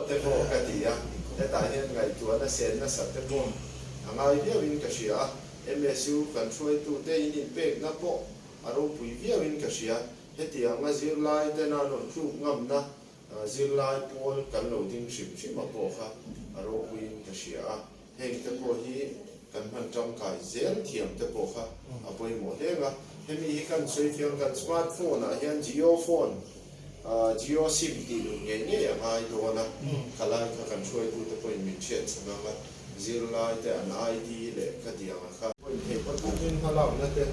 te pawh ka ti a, hetah hian ngaihtuah nasa nasa te pawh a ngai viauin ka hria a, MSU kan hruaitute ininpekna pawh a ropui viauin ka hria, heti anga zirlaitena rawn tluk ngamna zirlai pawl kan lo ding hrim hrima pawh kha a ropuiin ka hria a. heng te pawh hi kan hman tangkai zel thiam te pawh kha a pawimawh hleng a, hemi hi kan sawi fiang kan smart phone ah hian jio phone ah jio sim tih lut ngei ngei a ngai dawn a, ka lai kha kan hruaitu te pawhin min hriat chhan ang a, zirlai te an ID leh ka diang a kha. Pawimawh theih phawt phawt in hma lak na te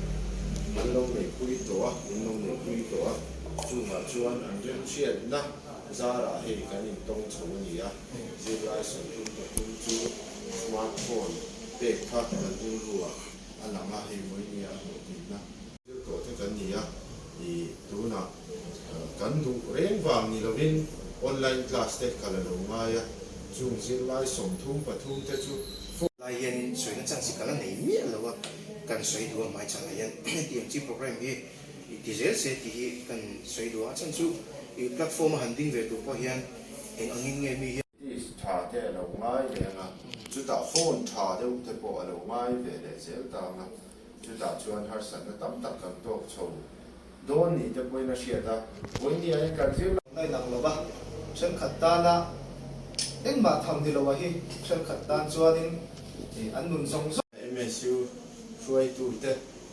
an lo nei pui tawh a, min lo nei pui tawh a, chungah chuan an rinhriat na zar ah hei kan in tawng chho a ni a. Zirlai sawi tum ta tum chu smartphone pek kha kan hung rua a lang a, hei mawi nia hmuh theih na tir tawh te kan ni a, i tunah kan duh reng vang ni lovin online class te ka la lo ngai a, chung zirlai sawmthum pathum te chu phone. Lai hianin sawi nachang si ka la nei miah lo a, kan sawi duh a hmai chhan ah hian hetiang chi program hi. I ti zel se tih hi kan sawi duh a, chhan chu i platform a han ding ve tur pawh hian eng angin nge mi hian. Test tha te a lo ngai ve ang a, chutah phone tha deuh te pawh a lo ngai ve leh zel ta ang a, chutah chuan harsatna tam tak kan tawk chho dawn ni te pawhin a hriat a, vawiin an inkan zir lo. Ngai lang lo va, thenkhat tana engmah tham ni loa hi thenkhat tan chuanin an nun zawng zawng. MSU hruaitu te.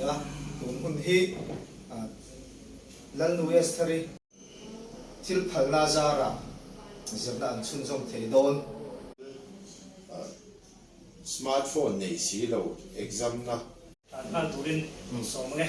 A tum hun hi Lalnui Esthari thil phalna zara zirna an chhun zawm thei dawn. Smart phone nei si lo exam na. An hman turin sawm ange.